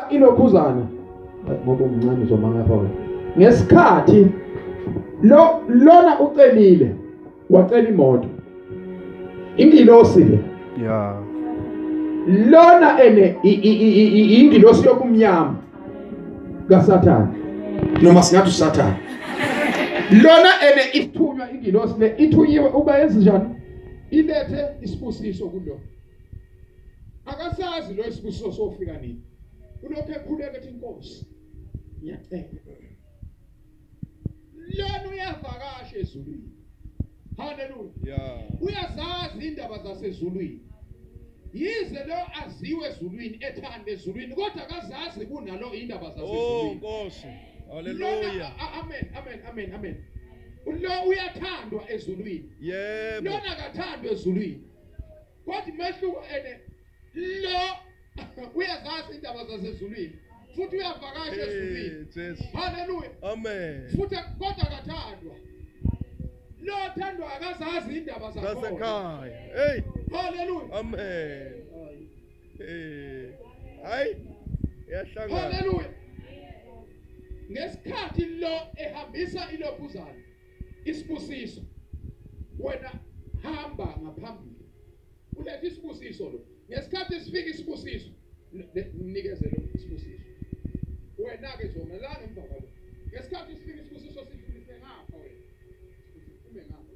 ilokhuzana ngoba umncane uzomanga pha wena ngesikhathi lo lona ucelile wacela imoto ingilosi le ya lona ene ingilosi yokumnyama kasathana noma singathi usathana lona ene ithunywa ingilosi le ithunyiwe uba yenze njani ilethe isibusiso kulo akasazi lo isibusiso sofika nini ulokhu ekhuleka ethi inkosi ngiyacela lona uyavakasha ezulwini haleluya yeah. uyazazi indaba zasezulwini yize lo aziwe ezulwini ethanda ezulwini kodwa akazazi kunalo indaba oh, zasezulwini oh nkosi haleluya amen amen amen amen lo uyathandwa ezulwini yebo lona akathandwa ezulwini Kodwa umehluko ene lo uyazazi indaba zasezulwini futhi uyavakasha ezulwini. Haleluya. Amen. Futhi kodwa akathandwa. Lo othandwa akazazi indaba zakhona. Zasekhaya. Hey. Haleluya. Amen. Eh. Hayi. Yahlangana. Haleluya. Ngesikhathi lo ehambisa ilobuzana isibusiso wena hamba ngaphambili ulethe isibusiso lo ngesikhathi sifika isibusiso nikezele isibusiso wena ke zona la ngemva kwalo ngesikhathi sifika isibusiso sidlulise ngapha wena uphume ngapha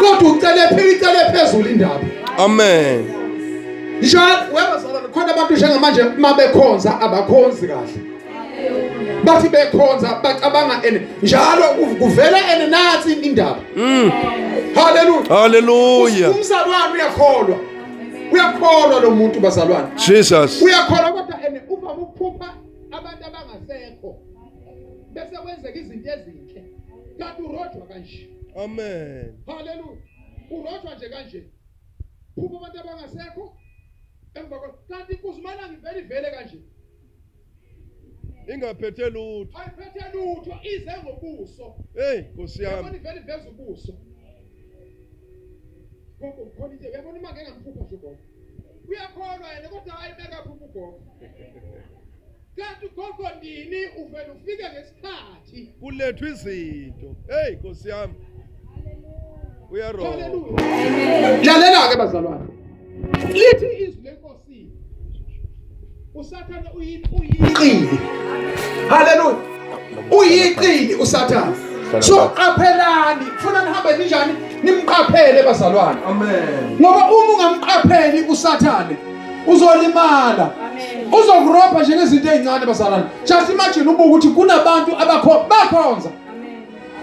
kodwa ucele phela icele phezulu indaba amen njalo webazala khona abantu njengamanje uma bekhonza abakhonzi kahle bathi bekhonza bacabanga ene njalo kuvela ene nathi indaba mm. haleluya haleluya umzalwane uyakholwa uyakholwa lo muntu bazalwane jesus uyakholwa kodwa ene uvama ukuphupha abantu abangasekho bese kwenzeka izinto ezinhle kanti urojwa kanje amen haleluya urojwa nje kanje phuma abantu abangasekho emva kwakho kanti inkosi umalanga ivele ivele kanje ingaphethe lutho ayiphethe lutho ize ngobuso hey nkosi yami yabona ivele iveza ubuso gogo khona into yabona uma ngengamphupha nje gogo uyakholwa yena kodwa ayibeka phupha ugogo Kanti ugogo ndini uvele ufike ngesikhathi. Kulethwa izinto. Hey Nkosi yami. Uyarona. Hallelujah. Lalela ke bazalwane. Lithi izwi lenkosi. Usathane uyiqili. Hallelujah. Uyiqili usathane. So qaphelani, funa nihambe ninjani? Nimqaphele bazalwane. Amen. Ngoba uma ungamqapheli usathane uzolimala uzokurobha nje ngezinto ezincane bazalwane just imagine ubuke ukuthi kunabantu abakho bakhonza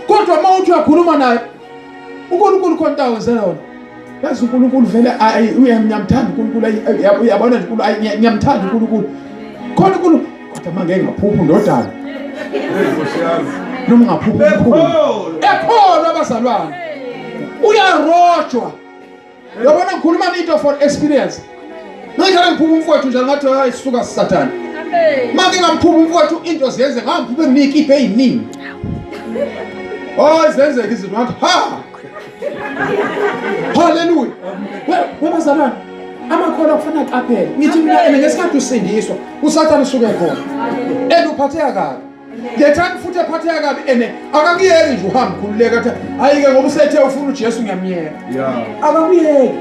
kodwa uma uthi uyakhuluma naye uNkulunkulu khona into awenzela yona yazi uNkulunkulu vele ayi uyamnyamthanda uNkulunkulu uyabona nje uNkulunkulu ayi ngiyamthanda uNkulunkulu khona uNkulunkulu kodwa manje ngaphupha ndodana noma ngaphupha ekholwa abazalwane uyarojwa Yabona ngikhuluma into for experience. Ngithanda ngiphuma umfowethu njalo ngathi hayi suka sathane. Manje ngamphuma umfowethu into ziyenze ngambi ube ngikhiphe eziningi. Oh zenzeke izinto ngathi ha. Hallelujah. Wema zamani. Amakhola kufana qaphela. Ngithi mina ngesikhathi usindiswa usathane usuke khona. Eluphatheka kabi. the time futhi ephatheka kabi ene akakuyeki nje uhambe khululeka athi hayi-ke ngoba usethe ufuna ujesu ngiyamyeka akakuyeki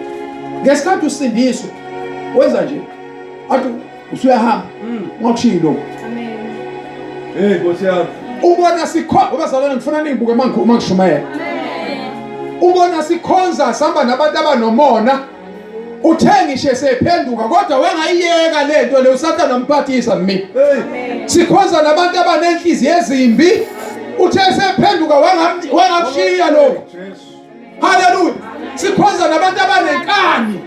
ngesikhathi usindiswe wenza nje athi usuyahamba mm. ungakushiyi lokhu hey nkosi yami ubona sikhona ubazalwane ngifuna ningibuke uma ngishumayela ubona sikhonza sihamba nabantu abanomona uthe ngisho esephenduka kodwa wengayiyeka le nto le usathane amphathisa mina sikhonza nabantu abanenhliziyo ezimbi uthe esephenduka wangakushiya lokho haleluya sikhonza nabantu abanenkani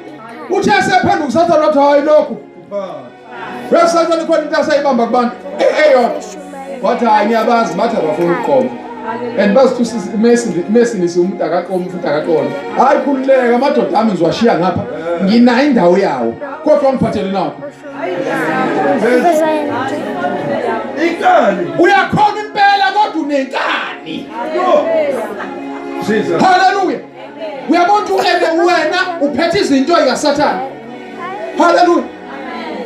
uthe esephenduka usathane wathi hayi lokho Website khona into asayibamba kubantu eyodwa. Eh, Wathi hayi ngiyabazi bathi abafuni ukuqoma. And bazithusisa iMessi iMessi nisi umuntu akaqoma futhi akaqona. Hayi khululeka amadoda ami ngiwashiya ngapha. Nginayo indawo yawo. Kodwa ngiphathele nawo. Inkani. Uyakhona impela kodwa unenkani. Jesus. Hallelujah. Uyabona ukuthi wena uphethe izinto zikaSathane. Hallelujah.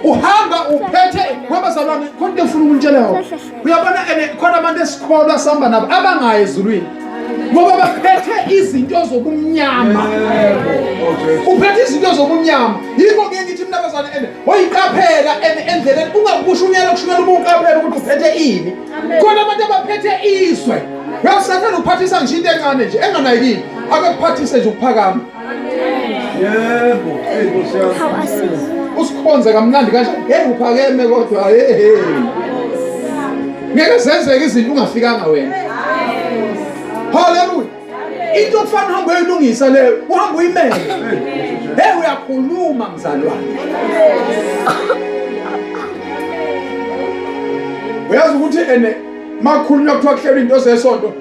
uhamba uphethe wabazalwane konke ufuna ukunitshela yona uyabona ene khona abantu esikholwa sihamba nabo abangayi ezulwini ngoba baphethe izinto zobumnyama uphethe izinto zobumnyama yikho ke ngithi mina bazane ene oyiqaphela ene endleleni ungakusho unyela kushunyela uma uqaphela ukuthi uphethe ini khona abantu abaphethe izwe uyasathana ukuphathisa ngisho into encane nje enganayikile akakuphathise nje ukuphakama yebo eyi nkosi yami How I see. usikhonze kamnandi kanje hey uphakeme kodwa hey hey ngeke zenzeke izinto ungafikanga wena haleluya into okufana uhambe uyilungisa leyo uhambe uyimele hey uyakhuluma mzalwane uyazi ukuthi ene makhulunywa kuthiwa kuhlelwa into zesonto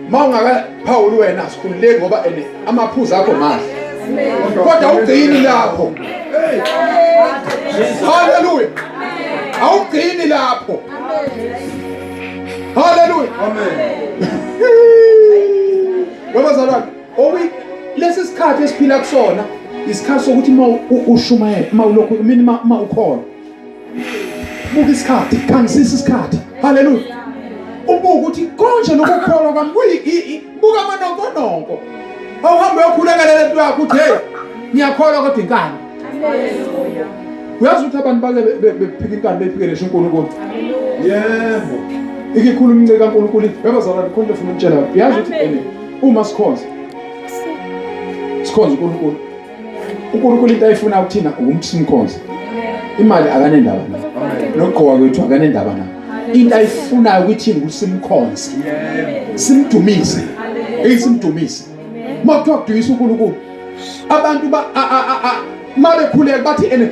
uma ungakaphawuli wena sikhululeki ngoba ene amaphuzu akho mahle kodwa ugcini lapho haleluya awugcini lapho haleluya babazalwane lesi sikhathi esiphila kusona isikhathi sokuthi uma ushumayela uma ulokhu mina uma ukhona buka isikhathi khangisisa isikhathi haleluya ubuka ukuthi konje nokukholwa kwami kuyi buka amanonkononko awuhambe uyokhulekela lento yakho uthi hey ngiyakholwa kodwa inkani uyazi ukuthi abantu bake bephika inkani bephike lesho uNkulunkulu yebo ikikhulu umncika kaNkulunkulu bebazalwa likhonto funa ukutshela yazi ukuthi uma sikhonza sikhonza uNkulunkulu uNkulunkulu into ayifuna kuthina ukuthi simkhonze imali akanendaba nayo nokugqoka kwethu akanendaba nayo into ayifunayo ukuthi ukuthi simkhonze simdumise eyisimdumise uma kuthiwa kudumisa uNkulunkulu abantu ba uma bekhuleka bathi ene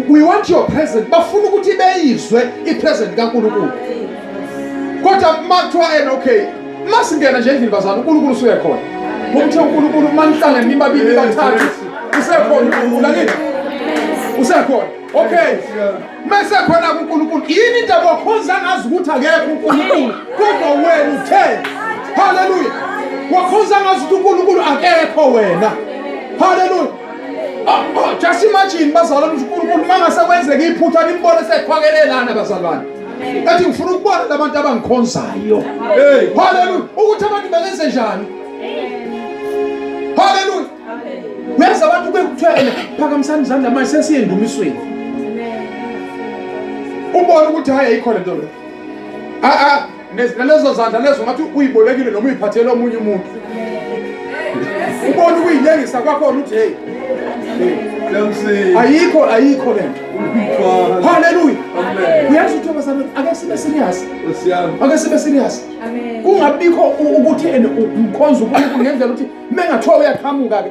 we want your present bafuna ukuthi beyizwe ipresent kaNkulunkulu kodwa uma kuthiwa ene okay Masingena nje endlini bazana uNkulunkulu usuye khona. Ngomthe uNkulunkulu manihlangene nibabili bathathu usekhona uNkulunkulu angithi. Usekhona. Okay. Mese khona kuNkulunkulu. Yini into abakhonza ngazi ukuthi akekho uNkulunkulu kodwa wena uthe. Hallelujah. Wakhonza ngazi ukuthi uNkulunkulu akekho wena. Hallelujah. Ah, ah, just imagine bazalwane uNkulunkulu mangasekwenzeka iphutha nimbone sekhwakelelana bazalwane. ethi ngifuna ukubona labantu abangikhonzayo haleluya ukuthi abantu bengenze njani haleluya uyazi abantu kuke kuthiwa ena phakamisani izandla manje sesiye endumisweni ubone ukuthi hhayi ayikho le nto le nalezo zandla lezo ngathi uyibolekile noma uyiphathele omunye umuntu ubone ukuyilengisa kwakhona ukuthi heyi ayikho ayikho le nto Hallelujah. Uyazi ukuthi abasami ake sibe serious. Ake sibe serious. Kungabikho ukuthi and ukhonza uNkulunkulu ngendlela ukuthi mengathiwa uyaqhamuka ke